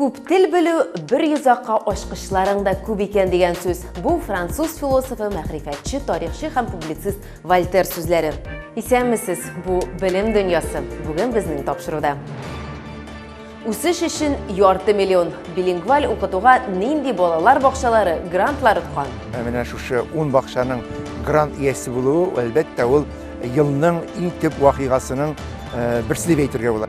Күп тел белү бер йозакка ачкычларың да күп икән дигән сүз. Бу француз философы, мәгърифәтче, тарихчы һәм публицист Вольтер сүзләре. Исәнмесез, бу белем дөньясы. Бүген безнең тапшыруда. Үсеш өчен ярты миллион билингваль укытуга нинди балалар бакчалары грантлар откан? Ә менә шушы ун бакчаның грант иясе булуы, әлбәттә, ул елның иң төп вакыйгасының э, берсе дип әйтергә була.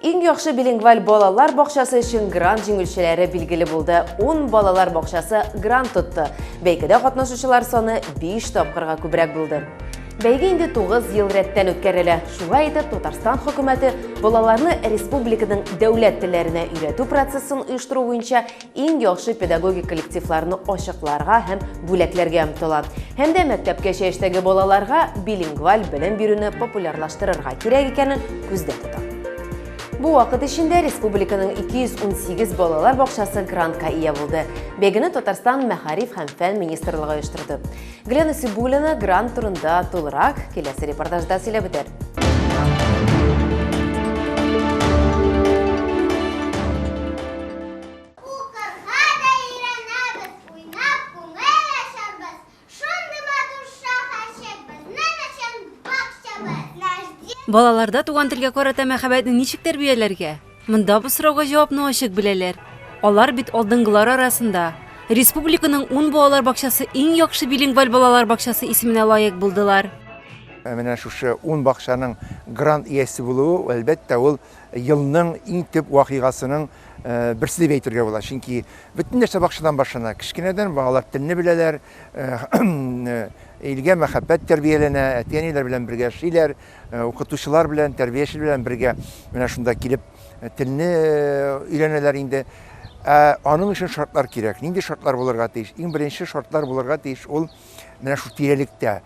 Иң яхшы билингваль балалар бакчасы өчен грант җиңүчеләре билгеле булды. 10 балалар бакчасы грант тотты. Бәйгедә катнашучылар саны 5 тапкырга күбрәк булды. Бәйге инде 9 ел рәттән үткәрелә. Шулай итеп, Татарстан хөкүмәте балаларны республиканың дәүләт телләренә өйрәтү процессын оештыру буенча иң яхшы педагогик коллективларны ачыкларга һәм бүләкләргә омтыла. Һәм дә мәктәпкәчә яшьтәге балаларга билингваль белем бирүне популярлаштырырга кирәк икәнен күздә тота. Бу вакыт эчендә республиканың 218 балалар бакчасы грантка ия булды. Бәйгене Татарстан мәгариф һәм фән министрлыгы оештырды. Глена Сибулина грант турында тулырак киләсе репортажда сөйләп үтәр. Балаларда туган телгә карата мәхәббәтне ничек тәрбияләргә? Монда бу сорауга җавапны ачык беләләр. Алар бит алдынгылар арасында. Республиканың ун балалар бакчасы иң яхшы билингваль балалар бакчасы исеменә лаек булдылар. Ә менә шушы ун бакчаның грант иясе булуы, әлбәттә, ул елның иң төп вакыйгасының берсе дип әйтергә була. Чөнки бөтен нәрсә бакчадан башлана. Кечкенәдән балалар телне беләләр, илгә мәхәббәт тәрбияләнә, әти-әниләр белән бергә яшиләр. Э, укытучылар белән тәрбияче белән бергә менә шунда килеп э, телне э, өйрәнәләр инде ә аның өчен шартлар кирәк нинди шартлар булырга тиеш иң беренче шартлар булырга тиеш ул менә шул тирәлектә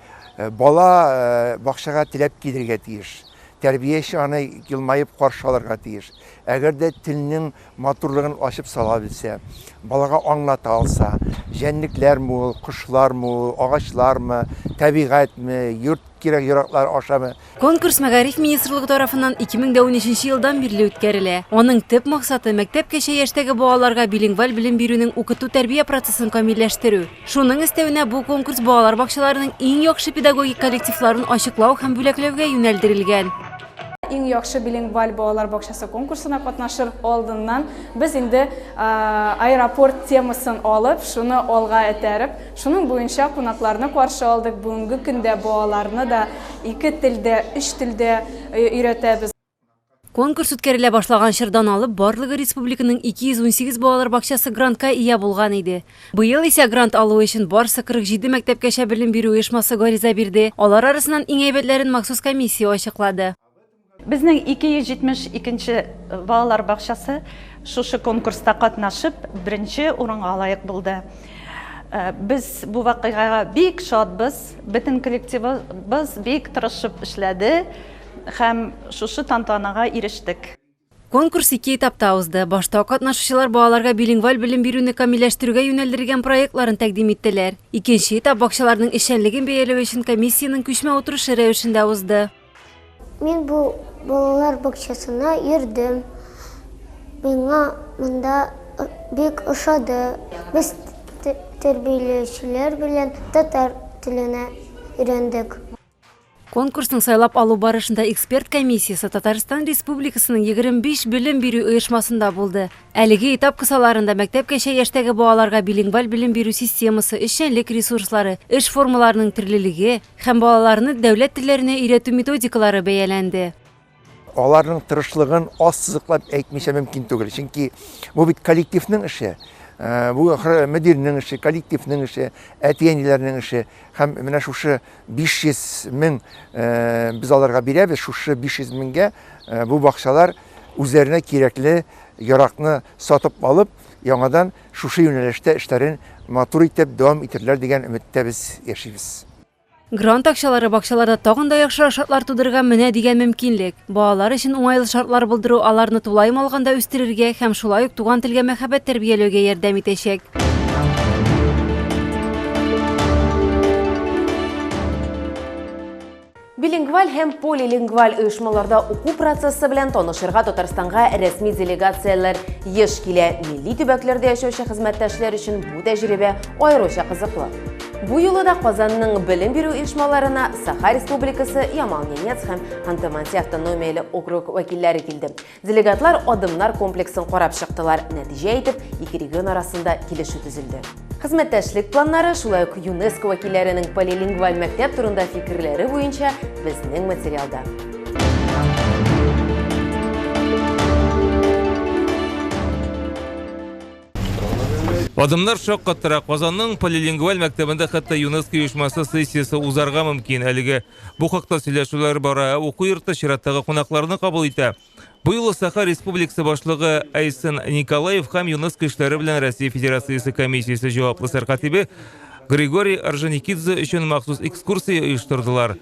бала бакчага теләп килергә тиеш тәрбияче аны елмаеп каршы алырга тиеш әгәр дә телнең Матурлыгын ачып сала белсә, балага аңлата алса, җәнлекләр ме ул, кошлар ме ул, агачлар ме, табигать ме, йорт кирәк-яраклары аша ме? Конкурс Мәгариф министрлыгы тарафыннан 2013 елдан бирле үткәрелә. Аның төп максаты, мәктәпкәчә яшьтәге балаларга билингваль белем бирүнең укыту-тәрбия процессын камилләштерү. Шуның өстәвенә, бу конкурс балалар бакчаларының иң яхшы педагогик коллективларын ачыклау һәм бүләкләүгә юнәлдерелгән. Иң яхшы билингваль балалар бакчасы конкурсына катнашыр алдыннан без инде аэропорт темасын алып, шуны алга этәреп, шуның буенча кунакларны каршы алдык. Бүгенге көндә балаларны да ике телдә, өч телдә өйрәтәбез. Конкурс үткәрелә башлаган чордан алып, барлыгы республиканың 218 балалар бакчасы грантка ия булган иде. Быел исә грант алу өчен барсы 47 мәктәпкәчә белем бирү оешмасы гариза бирде. Алар арасыннан иң әйбәтләрен махсус комиссия ачыклады. Безнең 272 нче балалар бакчасы шушы конкурста катнашып, беренче урынга лаек булды. Без бу вакыйгага бик шатбыз. Бөтен коллективыбыз бик тырышып эшләде һәм шушы тантанага ирештек. Конкурс ике этапта узды. Башта катнашучылар балаларга билингваль белем бирүне камилләштерүгә юнәлдерелгән проектларын тәкъдим иттеләр. Икенче этап бакчаларның эшчәнлеген бәяләү өчен комиссиянең күчмә утырышы рәвешендә узды. Мин бу балалар бакчасына йөрдем. Миңа монда бик ошады. Без тәрбияләүчеләр белән татар теленә өйрәндек. Конкурсның сайлап алу барышында эксперт комиссиясе Татарстан Республикасының 25 белем бирү оешмасында булды. Әлеге этап кысаларында мәктәпкәчә яшьтәге балаларга билингваль белем бирү системасы, эшчәнлек ресурслары, эш формаларының төрлелеге һәм балаларны дәүләт телләренә өйрәтү методикалары бәяләнде. Аларның тырышлыгын аз сызыклап әйтмичә мөмкин түгел. Чөнки бу бит коллективның эше. Э, бу ахры мөдирнең эше, коллективның эше, әти-әниләрнең эше. Һәм менә шушы 500 мең э, без аларга бирәбез, шушы 500 меңгә э, бу бакчалар үзләренә кирәкле яракны сатып алып, яңадан шушы юнәлештә эшләрен матур итеп дәвам итерләр дигән өметтә без яшибез. Грант акчалары бакчаларда тагын да яхшырак шартлар тудырырга менә дигән мөмкинлек. Балалар өчен уңайлы шартлар булдыру аларны тулаем алганда үстерергә һәм шулай ук туган телгә мәхәббәт тәрбияләүгә ярдәм итәчәк. Билингваль һәм полилингваль оешмаларда уку процессы белән танышырга Татарстанга рәсми делегацияләр еш килә. Милли төбәкләрдә яшәүче хезмәттәшләр өчен бу тәҗрибә аеруча кызыклы. Бу юлы да Казанның белем бирү оешмаларына Саха Республикасы Ямал-Ненец һәм Ханты-Манси автономияле округ вәкилләре килде. Делегатлар адымнар комплексын карап чыктылар. Нәтиҗә итеп, ике регион арасында килешү төзелде. Хезмәттәшлек планнары, шулай ук ЮНЕСКО вәкилләренең полилингваль мәктәп турында фикерләре буенча безнең материалда. Адымнар шаккаттыра. Казанның полилингваль мәктәбендә хәтта ЮНЕСКО оешмасы сессиясе узарга мөмкин. Әлеге бу хакта сөйләшүләр бара. Ә уку йорты чираттагы кунакларны кабул итә. Бу юлы Саха Республикасы башлыгы Айсен Николаев һәм ЮНЕСКО эшләре белән Россия Федерациясе комиссиясе җаваплы сәркатибе Григорий Орджоникидзе өчен махсус экскурсия оештырдылар.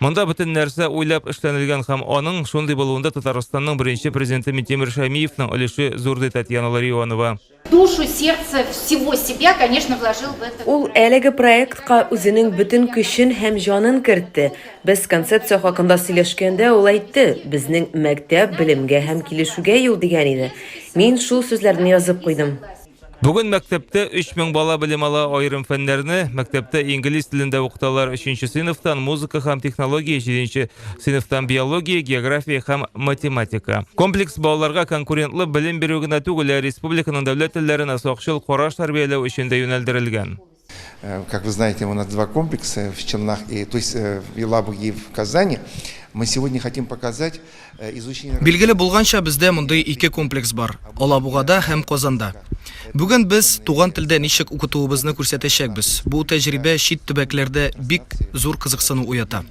Монда бөтен нәрсә уйлап эшләнелгән һәм аның шундый булуында Татарстанның беренче президенты Митимир Шәймиевның өлеше зур, ди Татьяна Ларионова. Душу, сердце, всего себя, конечно, вложил в это. Ул әлеге проектка үзенең бөтен көчен һәм җанын кертте. Без концепция хакында сөйләшкәндә, ул әйтте, Безнең мәктәп, белемгә һәм килешүгә юл, дигән иде. Мин шул сүзләрне язып куйдым. Бүген мәктәптә 3000 бала белем ала, аерым фәннәрне мәктәптә инглиз телендә укыталар. 3 сыйныфтан музыка һәм технология, 7 сыйныфтан биология, география һәм математика. Комплекс балаларга конкурентлы белем бирү генә түгел, ә республиканың дәүләт телләренә сакчыл караш тәрбияләү өчен дә юнәлдерелгән. Э, как вы знаете, у нас два комплекса в Челнах, и, то есть э, в Елабуге и в Казани. Мы сегодня хотим показать э, изучение... Билгеле булганча бездә мондый ике комплекс бар, Алабугада һәм Казанда. Бүген без туган телдә ничек укытуыбызны күрсәтәчәкбез. Бу тәҗрибә чит төбәкләрдә бик зур кызыксыну уята.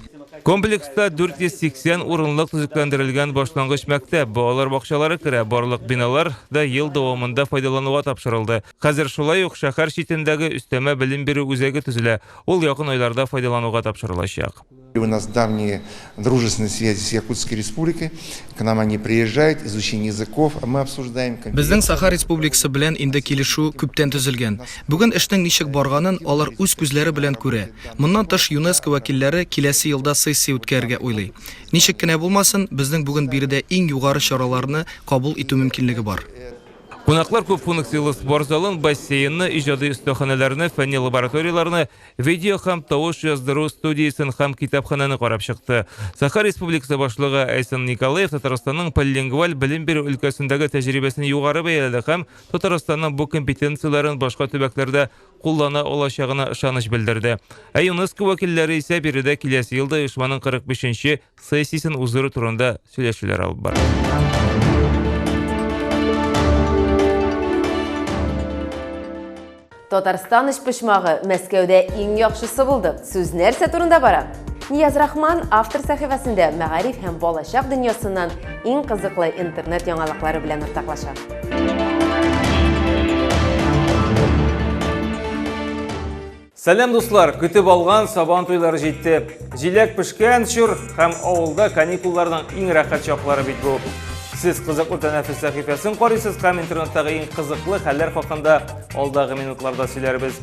Комплекста 480 урынлык төзекләндерелгән башлангыч мәктәп, балалар бакчалары керә, барлык биналар да ел дәвамында файдалануга тапшырылды. Хәзер шулай ук шәһәр читендәге өстәмә белем бирү үзәге төзелә, ул якын айларда файдалануга тапшырылачак. У нас давние дружественные связи с Якутской Республикой, к нам они приезжают, изучение языков мы обсуждаем. Безнең Саха Республикасы белән инде килешү күптән төзелгән. Бүген эшнең ничек барганын алар үз күзләре белән күрә. Моннан тыш ЮНЕСКО вәкилләре киләсе елда сессия үткәрергә уйлый. Ничек кенә булмасын, безнең бүген биредә иң югары чараларны кабул итү мөмкинлеге бар. Кунаклар күп функцияле спорт залын, бассейнны, иҗади өстәханәләрне, фәнни лабораторияләрне, видео һәм тавыш яздыру студиясен һәм китапханәне карап чыкты. Саха Республикасы башлыгы Айсен Николаев Татарстанның полилингваль белем бирү өлкәсендәге тәҗрибәсен югары бәяләде һәм Татарстанның бу компетенцияләрен башка төбәкләрдә куллана алачагына ышаныч белдерде. Ә ЮНЕСКО вәкилләре исә биредә киләсе елда оешманың 45 нче сессиясен уздыру турында сөйләшүләр алып бара. Татарстан почмагы Мәскәүдә иң яхшысы булды. Сүз нәрсә турында бара? Нияз Рахман автор сәхифәсендә мәгариф һәм балачак дөньясыннан иң кызыклы интернет яңалыклары белән уртаклаша. Сәлам дуслар! Көтеп алган сабан туйлары җитте. Җиләк пешкән чор һәм авылда каникулларның иң рәхәт чаклары бит бу. Сез кызыклы тәнәфес сәхифәсен карыйсыз һәм интернеттагы иң кызыклы хәлләр хакында алдагы минутларда сөйләрбез.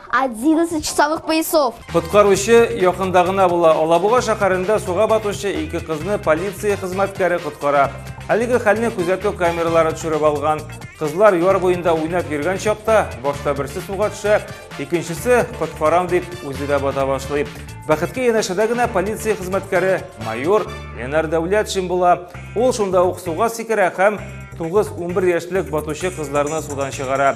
11 часовых поясов. Коткаручы якында гына була. Алабуга шәһәрендә суга батучы ике кызны полиция хезмәткәре коткара. Әлеге хәлне күзәтү камералары төшереп алган. Кызлар яр буенда уйнап йөргән чакта башта берсе суга төшә, икенчесе коткарам дип үзе дә бата башлый. Бәхеткә янәшәдә генә полиция хезмәткәре майор Ленар Дәүләтшин була. Ул шунда ук суга сикерә һәм 9-11 яшьлек батучы кызларны судан чыгара.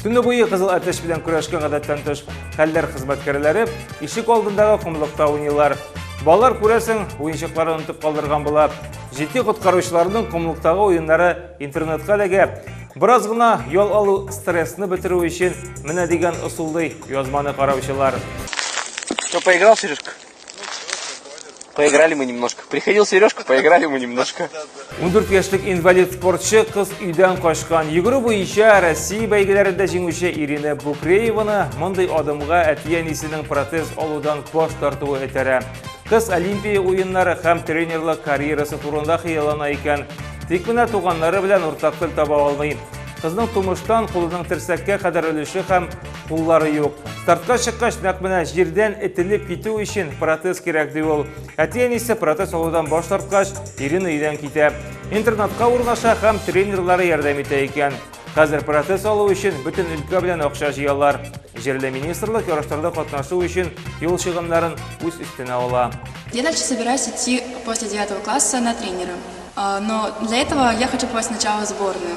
Төне буе кызыл әтәч белән көрәшкән гадәттән тыш хәлләр хезмәткәрләре ишек алдындагы комлыкта уйныйлар. Балалар күрәсең, уенчыкларын онытып калдырган була. Җитди коткаручыларның комлыктагы уеннары интернетка эләгә. Бераз гына ял алу стрессны бетерү өчен менә дигән ысул ди язманы караучылар. Что, поиграл, Сережка? Поиграли мы немножко. Приходил Сережка, поиграли мы немножко. 14 яшьлек инвалид спортчы кыз өйдән качкан. Йөгерү буенча Россия бәйгеләрендә җиңүче Ирина Букрееваны мондый адымга әти-әнисенең протез алудан баш тартуы этәрә. Кыз Олимпия уеннары һәм тренерлык карьерасы турында хыяллана икән. Тик менә туганнары белән уртак тел таба алмый. Кызның тумыштан кулының терсәккә кадәр өлеше һәм куллары юк. Стартка чыккач, нәкъ менә җирдән этелеп китү өчен протез кирәк ди ул. Әти-әнисе протез алудан баш тарткач, Ирина өйдән китә. Интернатка урнаша һәм тренерлары ярдәм итә икән. Хәзер протез алу өчен бөтен өлкә белән акча җыялар. Җирле министрлык ярышларда катнашу өчен юл чыгымнарын үз өстенә ала. Я дальше собираюсь идти после 9 класса на тренера. Но для этого я хочу попасть сначала в сборную.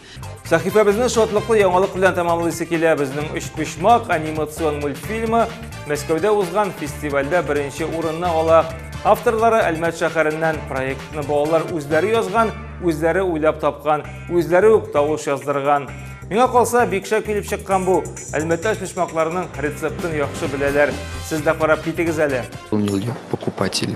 Сәхифәбезне шатлыклы яңалык белән тәмамлыйсы килә. Безнең Өчпочмак анимацион мультфильмы Мәскәүдә узган фестивальдә беренче урынны ала. Авторлары Әлмәт шәһәреннән проектны балалар үзләре язган, үзләре уйлап тапкан, үзләре үк тавыш яздырган. Миңа калса, бик шәп килеп чыккан бу. Әлмәттә шмышмакларның рецептын яхшы беләләр. Сез дә карап китегез әле. Покупатели.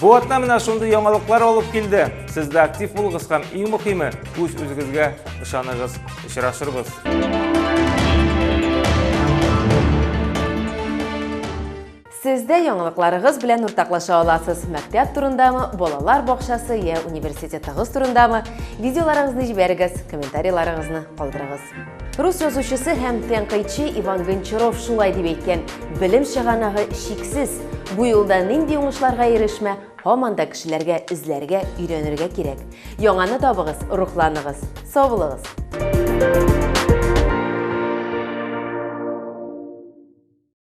Бу атна менә шундый яңалыклар алып килде. Сез дә актив булыгыз һәм иң мөһиме, үз үзегезгә ышаныгыз. Очрашырбыз. Сез дә яңалыкларыгыз белән уртаклаша аласыз. Мәктәп турындамы, балалар бакчасы я университетыгыз турындамы? Видеоларыгызны җибәрегез, комментарийларыгызны калдырыгыз. Рус язучысы һәм тәнкыйтьче Иван Гончаров шулай дип әйткән, белем чыганагы чиксез. Бу юлда нинди уңышларга ирешмә, һаман да кешеләргә эзләргә, өйрәнергә кирәк. Яңаны табыгыз, рухланыгыз, сау